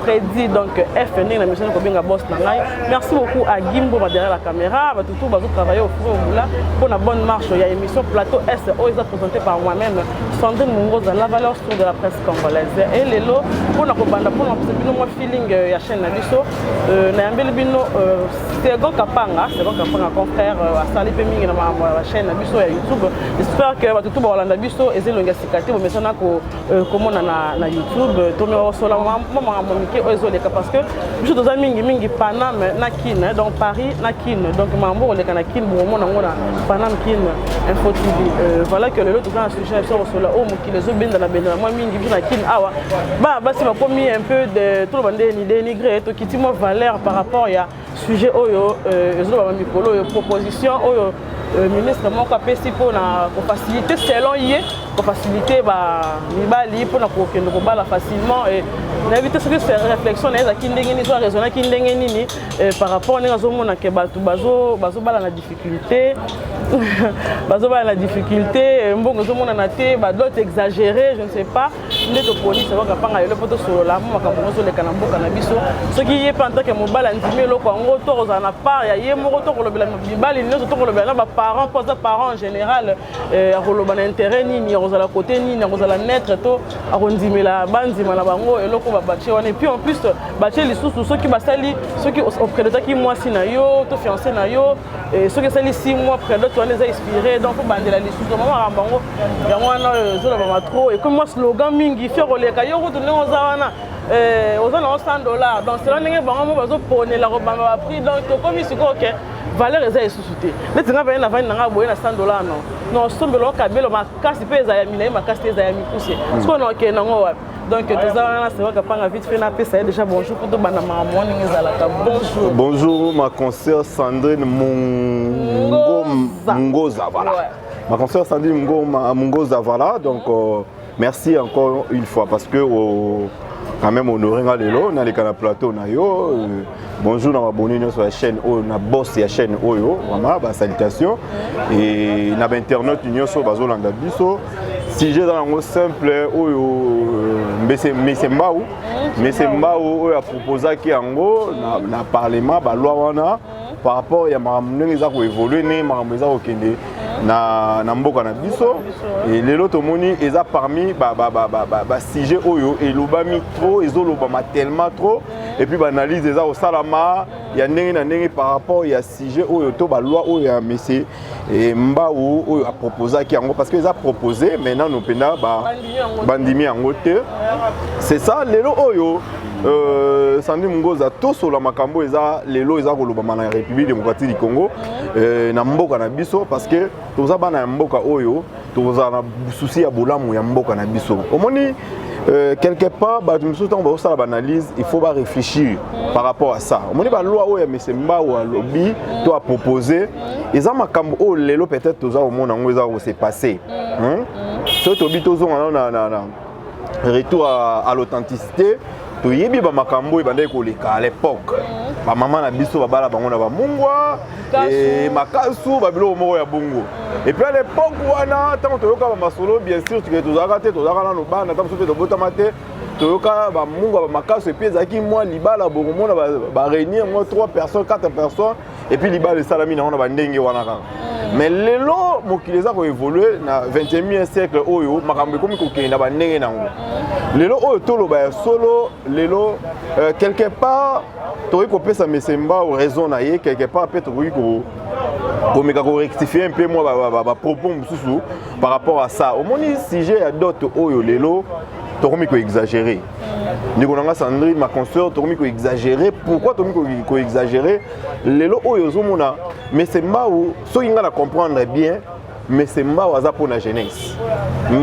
Freddy donc F ndenge na mission kobenga boss na ngai merci beaucoup à Gimbo ba derrière la caméra ba tutu bazo travailler au fond moula pour la bonne marche ya émission plateau S oyo eza présenté par moi-même Sandrine Mungoza la valeur sur de la presse congolaise et lelo pour na kobanda pour na pesa bino mwa feeling euh, ya chaîne na biso euh, na yambeli bino euh, Sego Kapanga Sego Kapanga confrère asali pe mingi na ma chaîne na biso ya YouTube j'espère que ba tutu ba Hollande biso ezelonga sikate bo mesana ko Euh, komona na, na youtube euh, to miwakosola mwa makambo mike oyo ezoleka parce que biso toza mingi mingi paname na kin donc paris na kin donc makambo okoleka na kin bokomona yango na paname kin info tv euh, voilà que lelo toza na sujet na biso kosola oyo oh, mokili ezobendana bendana mwa mingi biso na kin awa bana basi bakomi un peu de toloba nde dénigré tokiti mwa valeur par rapport ya sujet oyo euh, ezolobama mikolo oyo proposition oyo euh, ministre moko apesi mpona kofacilite selon ye kofacilite bamibali mpona kokende kobala facilement nayebi te soki réflexion na ye ezalaki ndenge nini so araisonnaki ndenge nini euh, par rapport ndenge azomona ke bato bazobala na difficulté bazobala na difficulté mbongo ezomonana te badote exagéré je ne sais pas nde toponi salon kapanga lelo mpo tosolola mpo makambo yango ezoleka na mboka na biso soki ye mpe antake mobali andimi eloko yango to kozala na part ya ye moko to kolobela mibali nyonso to kolobela na baparent mpo aza parent en général euh, akoloba na intérêt nini akozala kote nini akozala neutre to akondimela bandima na bango eloko babatie wana epuis en plus batie lisusu soki basali soki opredotaki mwasi na yo to fiance na yo Eh, soki esali 6 mois predote wana eza expire donc obandela lisusu mama makambo yango yango wana oyo eh, ezolobama trop ekomi mwa slogan mingi fi okoleka yo kutu ndenge oza wana eh, oza nango 100 dollar donc sela ndenge bango mo bazoponela kobamba baprix donc tokomi sikoyo ke valeur eza lisusu te neti nga baye navandi nanga boye na 100 dollar no nosombelao kabelo makasi mpe ezala ya milai makasi te ezala ya mikuse mm. sikoyo naokende nango wapi donc toza wana c'est vrai kapanga vite fait napesa ye déjà bonjour kutu banda makambo wana ndenge ezalaka bonjour bonjour ma concert sandrine mongoza mongoza voilà ouais. ma concert sandrine ngoma mongoza voilà donc euh, merci encore une fois parce que oh, quand même honoré nga lelo naleka na plateau na yo euh, Bonjour na abonné nyonso ya chaîne oyo na boss ya chaîne oyo vraiment ba salutation et na ba internet nyonso bazolanda biso sujet eza nango simple oyo euh, mbese mbese mbau mbese mbau oyo aproposaki yango na, na parlement baloi wana par rapport ya makambo ndenge eza koevolue ndenge makambo eza kokende na, na mboka na biso e lelo tomoni eza parmi basujet ba, ba, ba, ba, oyo elobami trop ezolobama tellement trop et puis baanalyse eza kosalama ya ndenge na ndenge par rapport ya sujet oyo to baloi oyo ya mese eh, mbau oyo aproposaki yango parce que eza propose mais nano mpenza bandimi yango te c'est ça lelo oyo Euh, sandi mongoza tosola makambo eza lelo eza kolobama na république démocratique du congo euh, na mboka na biso parce que toza bana ya mboka oyo tokozala na susi ya bolamu ya mboka na biso omoni Euh, quelque part bato mosusu ntango bakosala baanalyse il faut baréfléchir par rapport à ça omoni baloi oyo ya mese mbau alobi to apropose eza makambo oyo lelo peut-être toza komona yango eza kose passe soki tobi tozonga nano na retour à, à l'authenticité toyebi bamakambo ebandaki koleka à l'époque mhm. bamama na biso babala bango na bamungwa e, makasu babiloko moko ya bongo mhm. epuis à l'époque wana ntango toyoka bamasolo bien sûr tike tozalaka te tozalaka nano bana ntango mosusu mpe tobotama te toyoka bamungwa bamakasu epuis ezalaki mwa libala bokomona baréunir mwa 3 personnes 4 personnes et puis libala esalami nango na bandenge wana kaka mm. mais lelo mokili eza koévolue na 21e siècle oyo makambo ekomi kokende na bandenge na yango mm. lelo oyo toloba ya solo lelo euh, quelque part tokoki kopesa mesemba o raison na ye quelque part mpe tokoki komeka korectifie mpe mwa bapropos mosusu par rapport à ça omoni sujet ya dote oyo lelo tokomi koexagere ndeko na nga sandrine ma consœur tokomi koexagere pourquoi tokomi koexagere lelo oyo ozomona mese mbau soki ngai na comprendre bien mese mbau aza mpo na jeunesse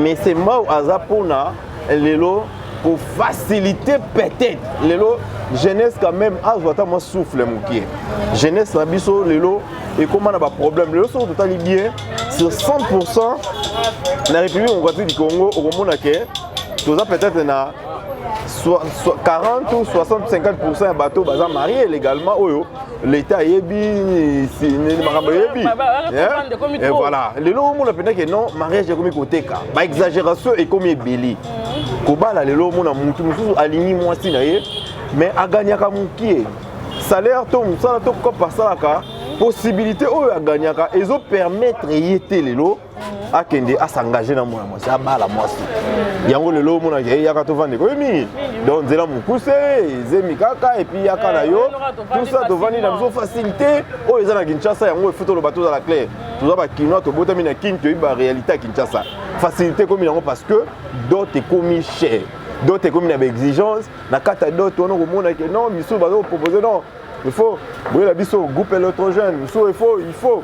mese mbau aza mpo na lelo kofacilite peut-être lelo jeunesse quand même azwa ata mwa souffle mokie jeunesse na biso lelo ekóma na baproblème lelo soki totali bien sur 100 na république démocratique du congo okomona ke toza peut-être na 40 ou 60 50 ya bato baza marie légalement oyo l'état ayebi makambo ayebi eh, voilà lelo omona mpenza ke non mariage ekomi koteka baexagération ekomi ebele mm. kobala lelo omona motu mosusu alingi mwasi na ye mais aganyaka mokie salaire to mosala to kopa asalaka possibilité oyo aganyaka ezopermettre ye te lelo akende asengage na mwana mwasi abala mwasi yango lelo omonaka ye yaka tovandeka oyo mingi donc nzela mokuse ezemi kaka epuis yaka na yo tusa tovandi na biso facilité oyo eza na kinshasa yango efuti oloba tozala claire toza bakinois tobotami na kin toyebi baréalité ya kinshasa facilité ekomi yango parce que dot ekomi cher dot ekomi na baexigence na kati ya dot wana okomona ke non misusu bazokopropose non il faut boyela biso groupe électrogène misusu il faut il faut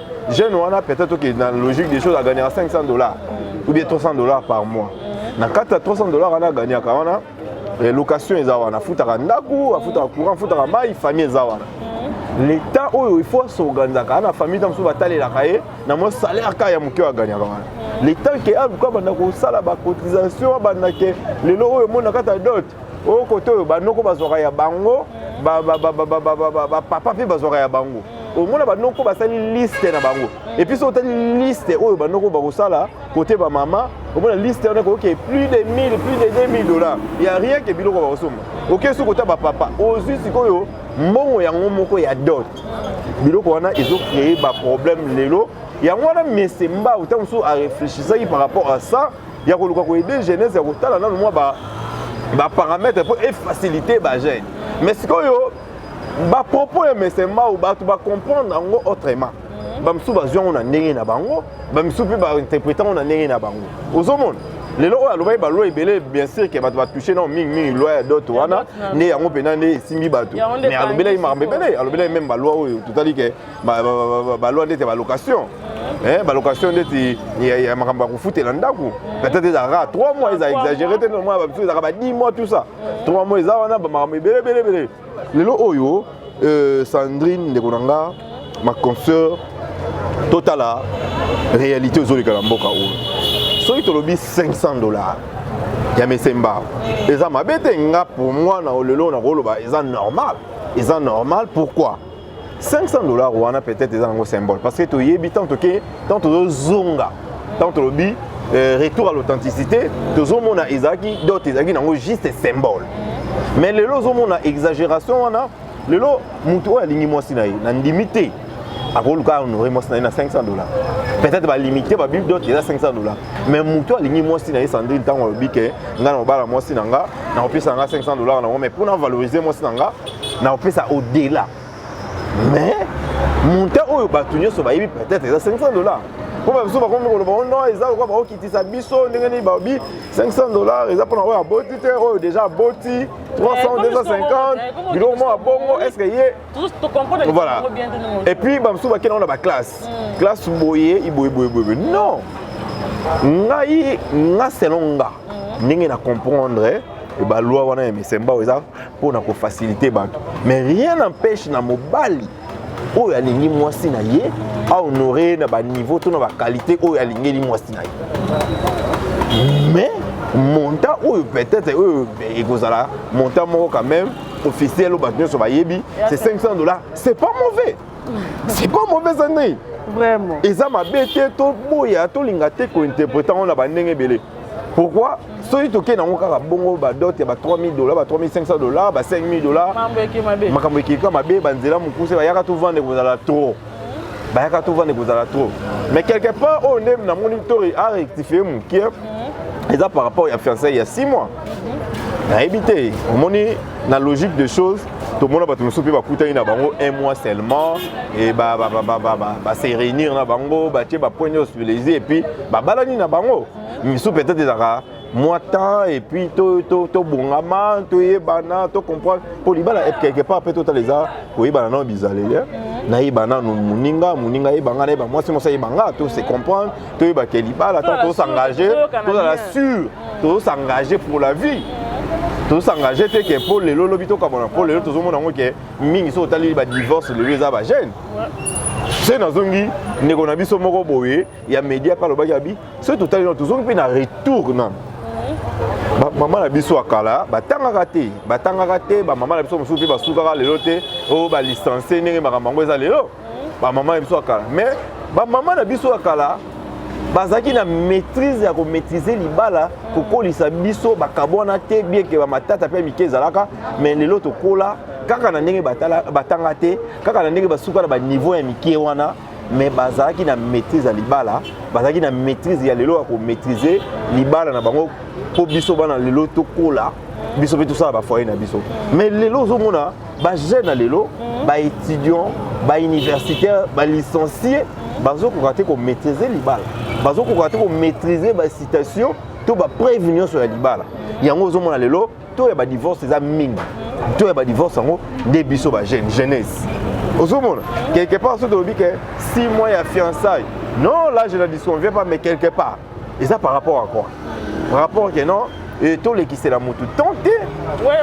jeune wana peut-être que dans logique des choses agagner 500 dollars ou bien 300 dollars par mois na kati ya 300 dollars wana aganyaka wana eh, location eza wana afutaka ndako afutaka courant afutaka mai famille eza wana l'état oyo il faut asorganisaka ana famille ntango mosusu batalelaka ye na mwa salaire kaka ya moke oyo aganyaka wana l'état ke aluka banda kosala bacotisation abanda ke lelo oyo omona kata dot oyo kote oyo banoko bazwaka ya bango bapapa mpe bazwaka ya bango omona banoko basali liste na bango epuis soki otali liste oyo banoko bakosala kote bamama omona liste wana ekoki plus de 1000 plus de 2000 dollars ya rien ke biloko bakosomba oke soki kota bapapa ozwi sikoyo mbongo yango moko ya dot biloko wana ezo cree baproblème lelo yango wana mese mbau ntango mosusu areflechisaki par rapport à ça ya koluka ko aider jeunesse ya kotala nanu mwa ba ba parametre mpo efacilite bagene mais sikoyo bapropos ya mesemau bato bacomprendre yango autrement mhm. bamosusu bazwi yango na ndenge na bango bamisusu mpe bainterprete yango na ndenge na bango ozomona lelo oyo alobaki baloi ebele bien sûr ke bato batouche nao mingimingi loi ya dote wana nde yango mpenza nde esimbi bato mais alobelaki makambo ebele alobelaki meme baloi oyo totali ke balwa ndeti ya balocation eh, balocation ndeti ya makambo ya kofutela ndako peut-être ezalaka 3 mois eza exagéré te nomoi babiso ezalaka ba 10 mois tout ça 3 mois eza wana bamakambo ebele ebele ebele lelo oyo euh, sandrine ndeko na nga ma consœur totala réalité ozoleka na mboka oyo soki tolobi 500 dollars ya mesemba eza mabe te nga pour moi na lelo nakoloba eza normal eza normal pourquoi 500 dollars wana peut-être eza nango symbole parce que toyebi tant toke tant tozozonga tant tolobi euh, retour à l'authenticité tozomona ezalaki dot ezalaki nango juste symbole mais lelo ozomona exagération wana lelo motu oyo alingi mwasi na ye nandimi te akoluka honore mwasi na ye na 500 dollars peut-être balimite babibi dot eza 500 dollars mais motu alingi mwasi na ye sandrine ntango alobi ke ngai na mobala mwasi na nga nakopesa na nga 500 dollars nango mais mpo na valoriser mwasi na nga na kopesa au delà mais montant oyo bato nyonso bayebi peut-être eza 500 dollars mpo babiso bakomi koloba o oh non eza lokola bakokitisa biso ndenge nini babi 500 dollars eza mpona oyo aboti te oyo déjà aboti 300 250 biloko moko abongo est ce que ye voilà et puis bamosusu bakenda ngo na baklasse hmm. classe boye iboyeboyeboye non ngai nga selon nga hmm. ndenge na comprendre balwa wana ya misembao eza mpo na kofasilite bato mais rien n'empêche na mobali oyo alingi mwasi na ye ahonore ye na baniveau to na bakalite oyo alingeli mwasi na ye mais montant oyo peut-être oyo ekozala montant moko quand même officiel oyo bato nyonso bayebi c'est 500 dollars c'est pas mauvais c'est pas mauvaise année vraiment eza mabe te toboya tolinga te kointerprete yango na bandenge ebele pourquoi soki tokei nango kaka bongo badote ya ba 3000 dollars ba 3500 dollars ba 5000 dollars makambo ekeka mabe banzela mokuse bayaka tovanda ekozala trop bayaka tovanda ekozala trop mais quelque part oyo nde namoni to arectifie mokie mhm. eza par rapport ya fiançai ya 6 mois nayebi te omoni na logique de choses tomona bato mosusu mpe bakutani na bango un mois seulement e base réunir na bango batie bapoint nyonso les et puis babalani na bango misusu peut-être ezalaka mwa temps et puis tobongama toyebana tocomprendre mpo libala quelque part mpe totala eza koyebana nao bizaleli nayeba nanu moninga moninga ayeba ngai nayeba mwasi mwasi ayeba ngai to se comprendre toyeba ke libala ntango tozosangaje tozala sur tozosangaje pour la vie tozosangaje te ke mpo lelo lobi tokabona mpo lelo tozomona yango ke mingi soki otaleli badivorce lelo eza bagene se nazongi ndeko na biso moko boye ya media mpe alobaki abi soki totaleli na tozongi mpe na retour na bamama na biso ya kala batangaka te batangaka te bamama na biso mosusu mpe basukaka lelo te o oh, balicense ndenge makambo yango eza lelo ba mama na biso ya kala mais ba mama na biso ya kala bazalaki na maîtrise ya komaîtrise libala kokolisa biso bakabwana te bieke bamatata mpe mike ezalaka mais lelo tokola kaka na ndenge batanga te kaka na ndenge basuka na baniveau ya mike wana mais bazalaki na maîtrise ya libala bazalaki na maîtrise ya lelo ya komaîtrise libala na bango mpo biso bana lelo tokola biso mpe tosala bafoye na biso mais lelo ozomona ba jeune ya lelo mm. ba étudiant ba universitaire ba licencie mm. bazokoka te komaîtrise libala bazokoka te komaîtrise bacitation to bapreuve nyonso ya libala mm. yango ozomona lelo to ya badivorce eza mingi to ya badivorce yango nde biso ba jeune jeunesse ozomona quelque part soki tolobi ke 6 mois ya fiançaille non là je ne disconviens pas mais quelque part eza par rapport à quoi par rapport que non et tolekisela motu temps te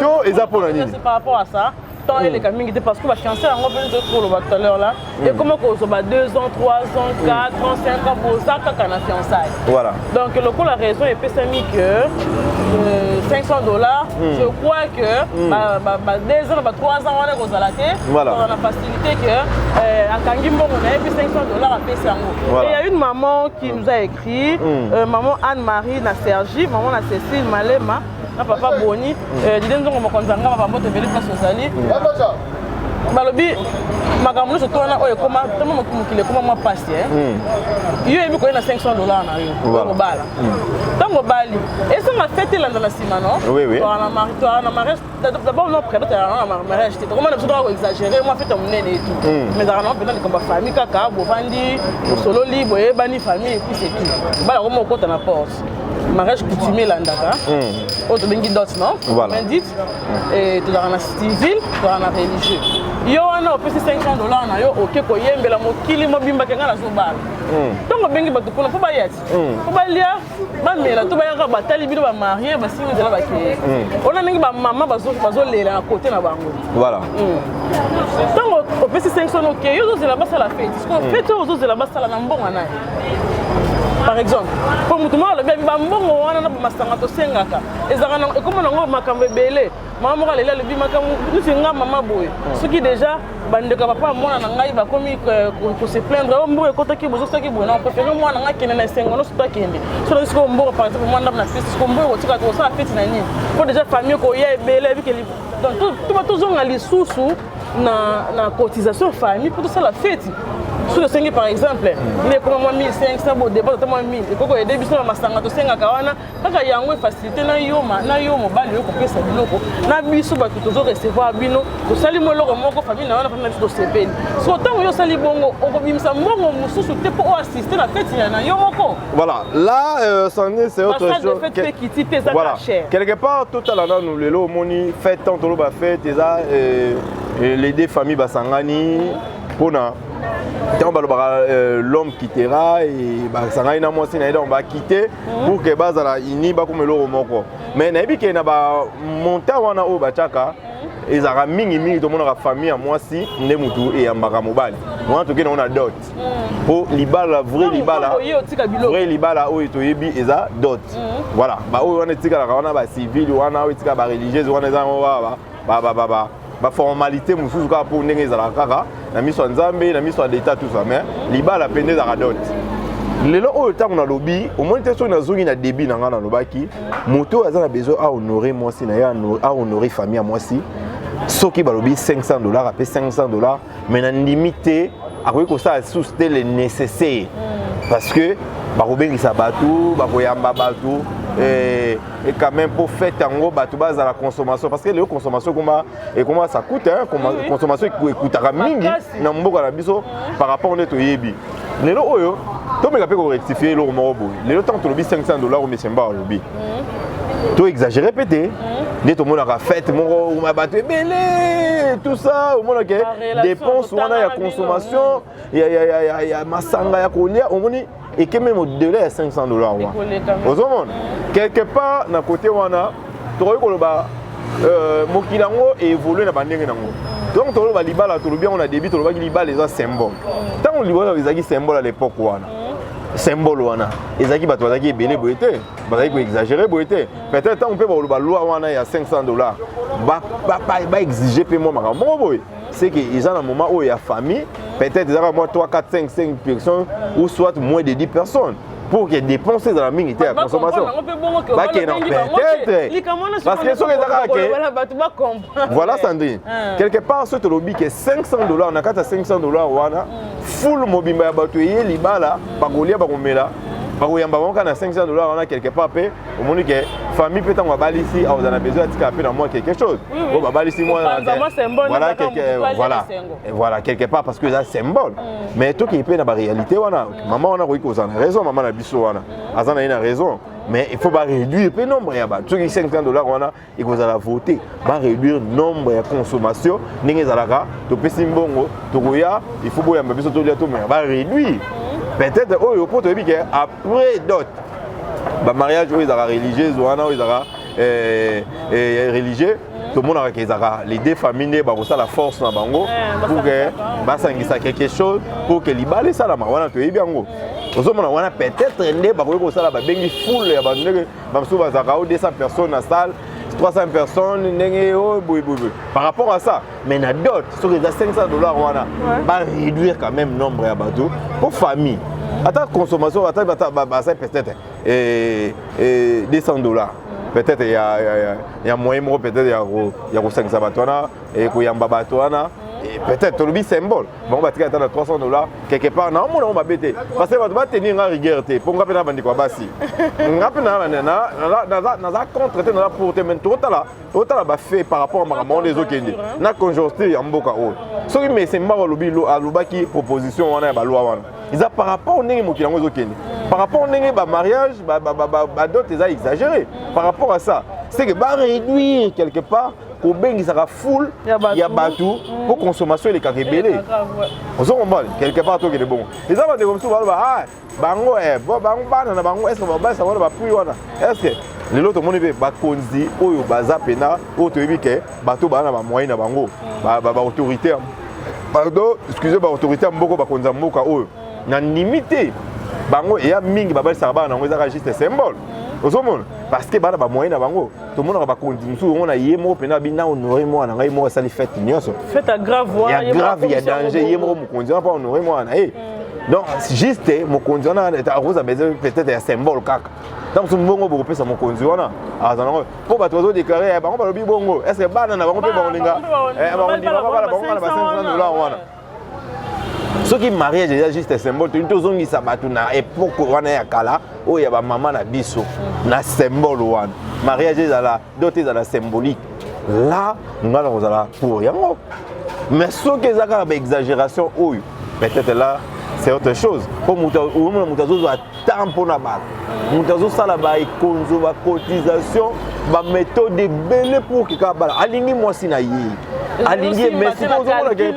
to eza mpo na nini par rapport à ça temps hmm. eleka mingi te parce que bachanse yango mpe nzoki koloba tout à l'heure là hmm. ekoma kozoba 2 ans 3 ans 4 hmm. ans 5 ans boza kaka na fiançaille voilà donc lokola raison epesami que 500 euh, dollars je crois que ba 2 ans ba 3 ans wana ekozala te kozala na facilité que euh, akangi mbongo na ye mpe 500 dollars apesi yango et ya une maman qui nous a écrit mm. euh, maman Anne-Marie na Sergi, maman na Cécile Malema, na papa Boni, mm. euh, Didem Zongo Mokonza Ngaba Bambo Tebele Place Ozali. Mm. Balobi makambo nyonso to wana oyo ekoma ntango mokili ekoma mwa mpasi eh? mm. yo oyebi koyei na 500 dollar na yo okobala ntango mm. obali esanga fete elanda na nsima no na mariage d'abord non prénom tala na mariage te tokomana biso toka koexagere mwa fete monene etu hmm. mais ezalaka nango mpenza likambo ya famille kaka bovandi bosololi boyebani famille epuis c'est tout bala koma okota na porte mariage coutumier elandaka hmm. oyo tobengi dot non indite hmm. tozalaka na civil tozalaka na religieux yo wana opesi 500 dollar na yo oke koyembela mokili mobimba ke ngai nazobala ntongo obengi bato kuna mpo bayati mpo balia bamela to bayaka batali bino bamarie basingi nzela bakeye hmm. ona ndenge bamama bazolela na kote na bango voilà ntango hmm. opesi 500 oke yo ozozela basala feti sikoyo hmm. feti oyo ozozela basala na mbongo naye par exemple mpo motu moko alobi abi bambongo wana na bamasanga tosengaka ezalaka ekoma nango makambo ebele mama moko aleli alobi makambo neti nga mama boye hmm. soki déjà bandeko ya papa ya mwana na ngai bakomi koseplaindre o mboko ekotaki bozo soki boye na prefere mwana ngai akende na esengo nyonso to akende so nayoki sikoyo mboko par exemple mwana ndambo na feti siko mboko kotika kosala feti na nini mpo déjà famille koya ebele ebike donc tozonga lisusu na, na cotisation famille mpo tosala feti soki osengi par exemple hmm. ndeko mwa 1500 bodepose ata mwa 1000 ekoki koyede biso na masanga tosengaka wana kaka yango efacilite na yo na yo mobali yo kopesa biloko na biso bato tozo recevoir bino tosali mo eloko moko famille na yo na famille na biso tosepeli so ntango yo osali bongo okobimisa mbongo mosusu te mpo oassiste na feti ya na yo moko voilà là euh, sandine c'est autre chose fête pe kiti te eza voilà. cher quelque part totala nanu lelo omoni fête tant toloba fête eza euh, euh, les deux familles basangani mpona ntango balobaka euh, l'homme quittera basangani na mwasi na ye donc bakite mhm. pour que bazala uni bakoma eloko moko mais nayebi ke na ba montant wana oyo batiaka mhm. ezalaka mingi mingi tomonaka famille ya mwasi nde motu eyambaka mobali wana toke nango na dot mhm. mpo libala vrai libala vrai libala oyo toyebi eza dot voilà baoyo wana etikalaka wana bacivile wana oyo etikala bareligieuses wana eza yango baba baformalite mosusu kaka mpo ndenge ezalaka kaka na miso ya nzambe na miso ya leta tout ça mais libala mpe nde ezalaka dote lelo oyo ntango nalobi omoni te soki nazongi na début na ngai nalobaki moto oyo aza na besoin ahonore mwasi na ye ahonore famille ya mwasi soki balobi 500 dollars ape 500 dollars mais na ndimi te akoki kosala lisusu te le nécessaire mm. parce que bakobengisa bato bakoyamba bato et, et quand même pour faire tango bato bazala consommation parce que leo consommation ekoma ekoma ça coûte hein, oui. consommation ekutaka mingi na mboka na biso par rapport nde toyebi lelo oyo tomeka mpe korectifie eloko moko boye lelo ntango tolobi 500 dollar oyo mesemba alobi mm. to exagere mpe te mm. nde tomonaka fete moko uma bato ebele tout ça omonake dépense wana ya consommation ya masanga ya kolia omoni ekememi au-delà ya 500 dollar wana ozomona mm. quelque part na kote wana tokoki koloba euh, mokili yango evolue na bandenge nango donc toloba libala tolobi yango na début tolobaki libala eza symbole ntango libala ezalaki symbole à l'époque wana symbole wana ezalaki bato bazalaki ebele boye te bazalaki koexagere boye te peut-être ntango mpe bakoloba loi wana ya 500 dollars baexige mpe mwa makambo moko boye c'est que eza na moment oyo ya famille peut-être ezaka mwa 3 4 5 5 personnes ou soit moins de 10 personnes pour que dépense ezala mingi te ya consommation bakende na peut-être parce que soki eza kaka ke voilà sandrine ah. quelque part soki tolobi ke 500 dollars na kati ya 500 dollars wana mm. full mobimba ya bato eye libala mm. bakolia bakomela mm. bakoyamba bango kaka na 500 dollars wana quelque part mpe omoni ke famille mpe ntango abalisi akozala na besoin atika mpe na mwa quelque chose oyo babalisi mwana voilà quelque part parce que eza symbole mais toki mpe na baréalité wana Maman wana akoki kozala na raison, maman na biso wana mm. aza na ye na raison mais il faut ba réduire pe nombre ya bato soki 500 dollars wana ekozala vote ba réduire nombre ya consommation ndenge ezalaka topesi mbongo tokoya il faut boyamba biso tolia tomeka ba réduire mm. peut-être oyo mpo toyebi ke après dot bamariage oyo ezalaka religieuse wana oyo ezalaka eh, eh, religieux mm. tomonaka ke ezalaka les deux familles nde bakosala force na bango eh, pour ke basangisa quelque chose pour ke libala esalama wana toyebi yango mm. ozomona wana peut-être nde bakoki kosala babengi foule ya bato ndenge bamosusu bazalaka o 200 personnes na salle 300 personnes ndenge oyo boyeboyeboye par rapport à ça mais na dot soki eza 500 dollars wana ba réduire quand même nombre ya bato mpo famille ata consommation ata basali peut-être et, et 200 dollars peut-être il y a, y a, y a moyen moko peut-être ya ko ya ko sangisa bato wana et ko yamba bato wana et peut-être tolobi symbole bango batika ata na 300 dollars quelque part na omona ngo mabe te parce que bato batenir nga rigueur te mpo nga mpe na bandeko ya basi nga mpe naza contre te naza pour te mais tokotala otala bafe par rapport ya makambo wana ezokende na conjoncture ya mboka oyo soki mese mbao alobi alobaki proposition wana ya balwa wana eza par rapport ndenge mokili yango ezokende par rapport ndenge bamariage badot eza exagéré par rapport à ça c'est que baréduire quelque part kobengisaka foule ya bato mpo mm. consommation elekaka ebele ozo comprendre quelque part tokende bongo eza bandeko mosusu baloba ah, bango eh, bango bana na bango eske babalisa wana bapui wana eske lelo tomoni mpe bakonzi oyo baza mpena oyo toyebi ke bato baa na bamoyen na bango baautorité ba, ba pardon excuse baautorité ya mboko bakonzi ya mboka oyo na ndimi te bango eya mingi babalisaka bana na yango ezaka juste symbole ozomona parce que bana bamoyen na bango tomonaka bakonzi mosusu yango na ye moko mpena abi na honore mwana ngai moko asali fete nyonso ya grave ya danger ye moko mokonzi wana mpo honore mwana na ye donc juste mokonzi wana akozwa besoin peut-être ya symbole kaka ntango mosusu mbongo bokopesa mokonzi wana aza nango mpo bato bazodeklare ya bango balobi bongo estce bana na bango mpe bakolinga bakondima babala bango na ba 500 dollar wana soki mariage eza juste symbole tolingi tozongisa bato na epoke wana ya kala oyo ya bamama na biso na symbole wana mariage ezala dot ezala symbolique la ngai nakozala pour yango mais soki eza kaka baexagération oyo peut-être là c'est autre chose mpo omona moto azozwa temps mpo na bato moto azosala baekonzo bacotisation baméthode ebele pour keka bala alingi mwasi na ye alingi ye mais sikoyo ozomona ke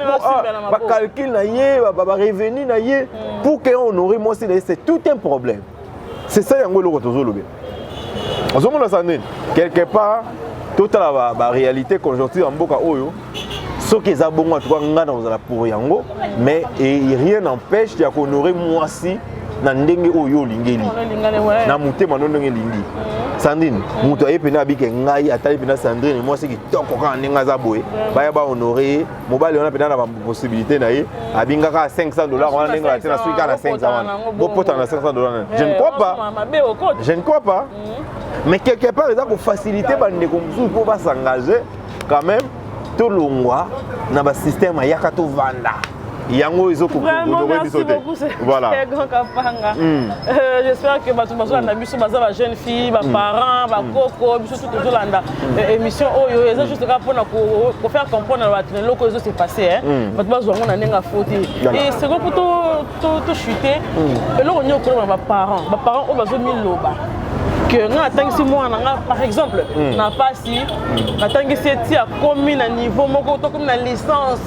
bacalcule na ye barevenu na ye pour ke honore mwasi na ye c'est tout un problème c'est ça yango eloko tozolobela ozomona sa nini quelque part totala ba, ba réalité conjoncture ya mboka oyo soki eza bongo atuka ngai nakozala pour yango mais e, rien n'empêche ya kohonore mwasi na ndenge oyo olingeli na motema no ndenge elingi mm. sandrine mm. moto aye mpena abike ngai atali mpena sandrine mwasi kitoko kaka ndenge aza boye baya bahonore ye mobali wana mpenza na baposibilité na ye abingaka 500 dollars wana ndenge batie na soki kaka na 500 wana bopotana na 500 dollars na je ne crois pas je ne crois pas mais quelque part eza kofacilité bandeko mosusu mpo basengage quand même tolongwa na basystème ayaka tovanda yango ezokokodokoye biso te voilà hmm. euh, j'espère que bato bazolanda biso baza ba jeune fille baparent hmm. bakoko hmm. biso tu tozolanda Eh, émission oyo eza juste kaka mpona kofaire comprendre bato na eloko ezo se passe hmm. bato bazwa yango na ndenge afo te e seko mpo tochute hmm. eloko nini okoloma na baparent baparent oyo bazomiloba que nga natangisi mwana nga par exemple hmm. na pasi natangisi eti akomi na niveau moko tokomi na licence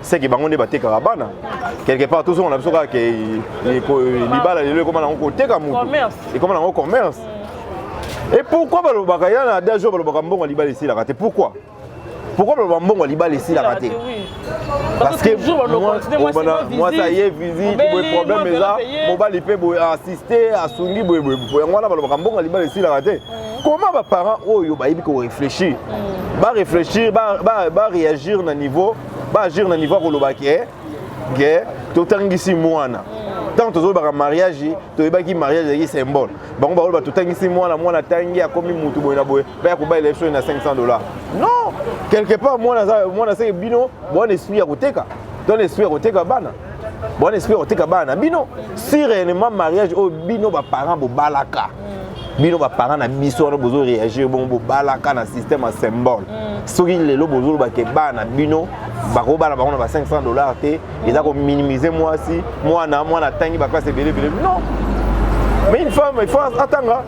seke bango nde batekaka bana quelque part tozonga na biso kaka ke libala lelo ekoma nango koteka motu ekoma nango commerce e pourquoi balobaka ya na adage oyo balobaka mbongo ya libala esilaka te pourquoi pourquoi baloba mbongo ya libala esilaka te parce que mwasi aye visite boye problème eza mobali mpe boye assiste asungi boye boye yango wana balobaka mbongo ya libala esilaka te comment ba parents oyo bayebi ko réfléchir mm. ba réfléchir ba ba, ba réagir na niveau ba agir na niveau koloba ke ke totangisi mwana mm. ntango tozolobaka mariage toyebaki mariage ezalaki symbole bango bakoloba totangisi mwana mwana atangi akomi motu boye na boye baya kobalela biso na 500 dollars non quelque part mwana mwana seke bino bwana esprit ya koteka to na esprit ya koteka bana bon esprit kotika bana na bino si réellement mariage oyo bino baparent bobalaka bino baparent na biso wana bozo réagir bongo bobalaka na système ya symbole mm. soki lelo bozoloba ke bana na bino bakobala bango na ba 500 dollars te eza kominimize mwasi mwana mwana atangi baklase ebele ebele non mais une femme il faut atanga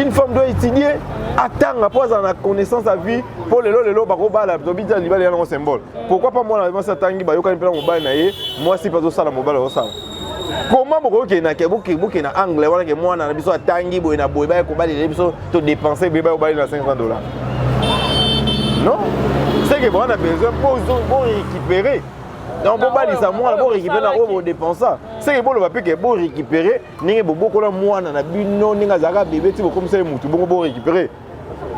une femme doit étudier atanga mpo azala na connaissance ya vie mpo lelo lelo bakobala tobitya libala yango symbole pourquoi pas mwana mwasi atangi bayokani mpe na mobali na ye mwasi mpe azosala mobali azosala koma bokoki bokende na angle wana ke mwana na biso atangi boye na boye baya kobalela biso to dépense boye baya kobalela na 500 dollars non seke bowana besoin bo récupérer donc bobalisa mwana borécupere na oyo bodepensa seke boloba mpe ke borécupere ndenge bobokola mwana na bino ndenge azalaka bebe ti bokomisa ye motu bongo borécupere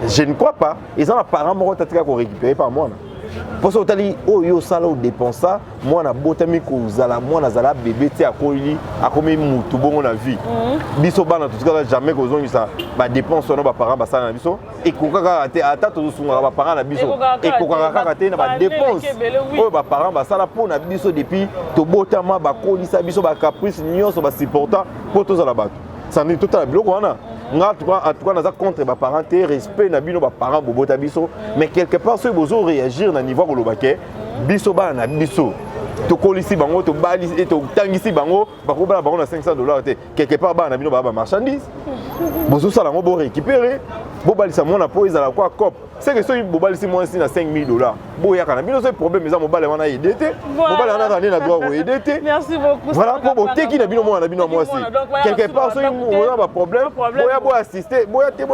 je ne crois pas eza na parent moko tatika korécupere par mwana mposo otali oyo yo osala odepensa mwana abotami kozala mwana azala bebe ti akoli akomi mutu bongo na vie mhm. biso bana totikaka jamais kozongisa badepense wana baparent basala na biso ekokaka kaka te ata tozosungaka baparent na biso ekokaka kaka te na badepense oyo baparent basala mpo na biso depuis tobotama bakolisa biso bacaprice nyonso basupporta mpo tozala bato sani totala biloko wana nga atuka naza contre baparent te respect na bino baparent bobota biso mais quelque part soki bozo réagir na niveau ya koloba ke biso bana na biso tokolisi bango tobali eh, totangisi bango bakobala bango na 500 dollars te quelque part bana na bino baa bamarchandise bozosala yango borécupere bobalisa mwana mpo ezala kwa cope seke soki bobalisi mwasi na 5000 dollars boyaka na bino soki problème eza mobali wana aide te mobali wana azali na droit koyede te voilà mpo boteki na bino mwana na bino ya mwasi quelque part soki oza baproblème boya boassiste boya te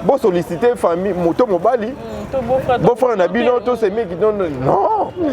bosollicite famille moto mobali mm, bofrère na bino tosemeki non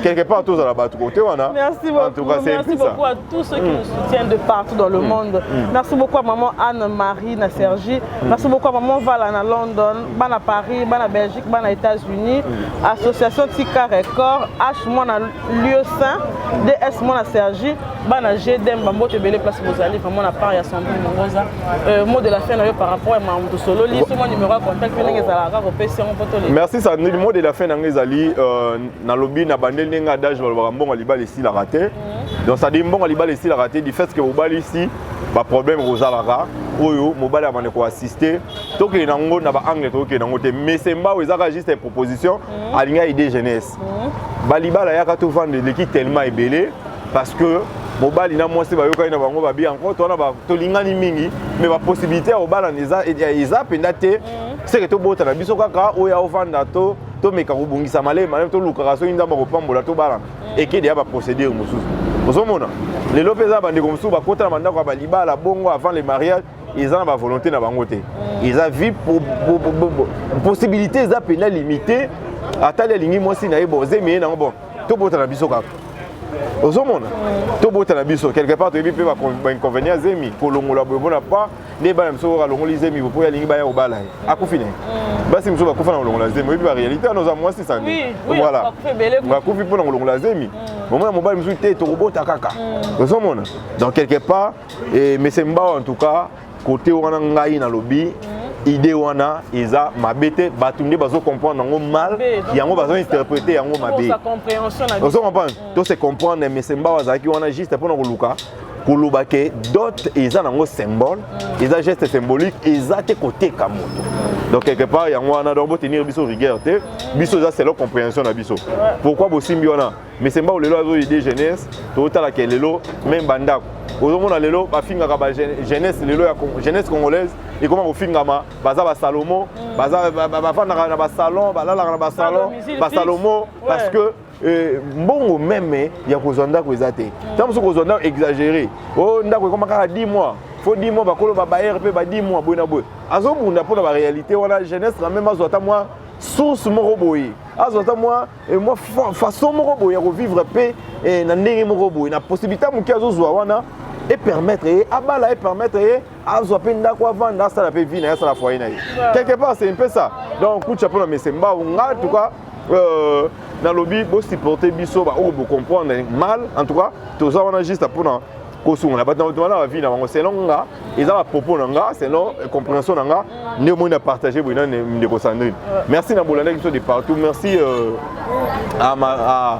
quelque part tozala bato kote wana merci beaucoup à tous ceux qui mm. nous soutiennent de partout dans le mm. monde merci beaucoup à maman anne marie na sergi Merci beaucoup à maman Vala na London, bana Paris, bana Belgique, bana États-Unis, mm. association Tika Record, H moi na lieu saint, DS moi na Sergi, bana GDM bambo te belé place vous allez vraiment la part ya Sandrine Mongoza. Euh, mot de la fin na yo par rapport à Mamoudou Solo, li mon numéro de contact pe ndenge zala ka ko pesi on poto le. Merci Sandrine, mot de la fin na ngezali euh na lobby na bandel ndenge adage balobaka mbongo libali si la raté. Mm. Donc ça dit mbongo libali si la raté du fait que obali si ba problème kozalaka oyo mobali ya maneko assiste tokende na ngo na ba angle tokende na ngo te mais sembao ezaka juste proposition mhm. alinga idée jeunesse mhm. balibala yaka to vendre leki tellement ebele parce que mobali na mwasi bayokani na bango babi yango to wana tolingani mingi mais ba possibilité ya kobalana eza eza mpenza te mhm. seke tobota na biso kaka oyo ya ovanda to tomeka kobongisa malema malema tolukaka soki nzambe akopambola tobalana ekede ya baprocédure mosusu ozomona lelo mpe eza na bandeko mosusu bakota na bandako ya balibala bongo avant le mariage eza na bavolonté na bango te eza vie possibilité eza mpena limité atali alingi mwasi na ye bon zemi ye nango bon tobota na biso kaka ozomona tobota na biso quelque part toyebi mpe bainconvénient zemi kolongola boye mpona pa nde bana biso oyo alongoli zemi bo mpo ye alingi baya kobala ye akufi na ye mm. basi mosusu bakufa na kolongola zemi oyebi baréalité wana oza mwasi sandi voilà bakufi mpo na kolongola zemi mm. omona mobali mosusu te tokobota kaka mm. ozomona donc quelque part eh, mese mbao en tout cas kote wana ngai nalobi idée wana eza mabe te bato nde bazo comprendre yango mal yango bazo interprete yango mabe ozo comprendre to se comprendre mais semba azalaki wana juste mpo na koluka koloba ke dot eza nango symbole eza geste symbolique eza te koteka moto donc quelque part yango wana donc botenir biso rigueur te biso eza selon comprehension na biso pourquoi bosimbi wana mesemba lelo azoyi de jeunesse totalaka lelo meme bandako ozomona lelo bafingaka ba jeunesse lelo ya jeunesse congolaise ekoma kofingama baza basalomo bafandaka na basalon balalaka na basalon basalomo parce que Euh, mbongo meme ya kozwa ndako eza te ntango mosusu kozwa ndako exagere o oh, ndako ekoma kaka 10 mois fo 10 mois bakolo babayere mpe ba 10 mois boye na boye azobunda mpo na baréalité wana jeunesse na meme azwa ata mwa source moko boye azwa ata mwa eh, mwa façon moko boye ya kovivre mpe eh, na ndenge moko boye na possibilité moke azozwa wana epermettre ye abala epermettre ye azwa mpe ndako avanda asala mpe vie na ye asala foyer na ye quelque part c'est un peu ça donc kucha mpo na mese mbau nga en tout cas euh, nalobi bosupporte biso baoyo bocomprendre mal en tout cas toza wana juste mpona kosungola bato na bato wana bavie na bango selon nga eza bapropos na nga selon euh, comprehension na nga nde omoni na partage boye na ndeko sandrine merci na bolandaki biso de partout merci euh, à ma, à,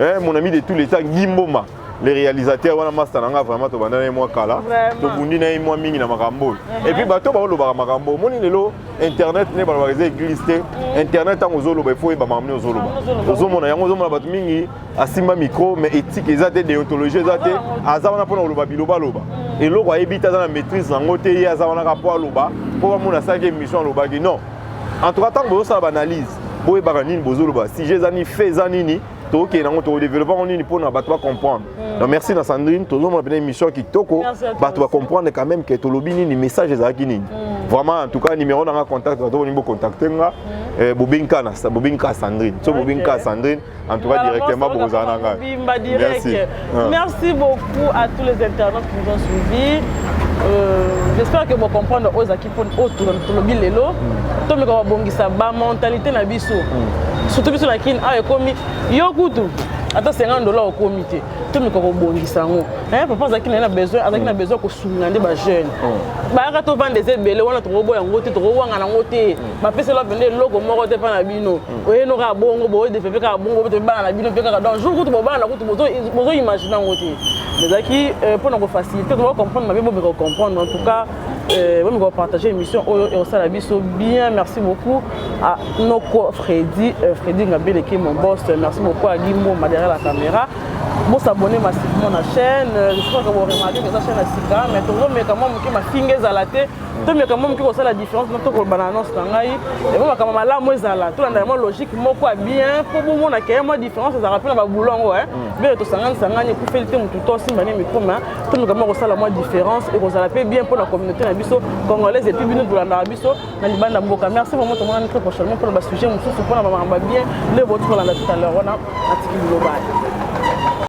Eh, mon ami de tous les temps, Guy Mboma, le réalisateur, wana master nanga vraiment to bandana moi kala, to bundi na moi mingi na makambo. Et puis bato ba olobaka makambo. Moni lelo internet ne ba ba église te. Mm. Internet tango zolo ba faut ba mamne ozolo ba. Ozo mona yango ozo mona bato mingi asimba micro mais éthique ezate déontologie ezate aza wana pona oloba biloba loba. Mm. Eloko ayebi ta na maîtrise nango te ye aza wana ka po aloba po ba mona sa ke mission alobaki non. en tout cas ntango bozosala baanalyse boyebaka nini bozoloba sujet eza nini fait eza nini tokokende yango tokodevelope yango nini mpona bato bacomprendre hmm. donc merci na sandrine tozomona mpena émission ya kitoko bato bacomprendre quand même ke tolobi nini message ezalaki nini hmm. vraiment en tout cas numéro nanga contact bato bolingi bocontacte nga hmm. eh, bobengi kaka sandrine so bobengi kaka sandrine En tout cas, directement, vous en avez. Bimba direct. Merci. Ah. Merci beaucoup à tous les internautes qui nous ont suivis. Euh, J'espère que vous comprenez aux qui pour autre le bilelo. Hmm. Tout le monde bongisa ba mentalité na biso. Hmm. Surtout biso la kin a ah, ekomi yo kutu ata 50 dollars okomi te to mikoka kobongisa yango eh, papa azalaki naye na besoin azalaki na hmm. besoin kosunga nde bajeune bayaka tovanda eza ebele wana tokoboya yango te tokowangana yango te bapeseli yo mpenza eloko moko te mpa na bino hmm. oyeno kaka bongo bodevepe kaka bongo botobi bana na bino mpe kaka donc jour kutu bobana kutu bozoimagine yango te ezalaki euh, mpo na kofacilite koba comprendre mabe bomeka kocomprendre en tout cas euh, bomeka kopartage émission oyo ekosala biso bien merci beaucoup à noko fredi euh, fredi ngabeleke mon boss merci beaucoup à gimboma derrière la caméra bosabone massivement na chaîne je crois que boremarke eza chaîne ya sika mais tozomeka mwa moke mafinga ezala te to meka mo moke kosala différence no tokoloba na annonce na ngai yango makambo malamu ezala tolanda yango logique moko ya bien mpo bomona ke mwa différence ezalaka mpe na babulo yango e bele tosanganisangani ekufeli te motu to asimba ne mikoma to meka mo kosala mwa différence ekozala mpe bien mpo na communauté na biso congolaise epuis bino tolandaka biso na libanda mboka merci vraiment tomonani très prochainement mpo na basujet mosusu mpo na bamakambo ya bien nde boti kolanda tout à l'heure wana atiki bilobani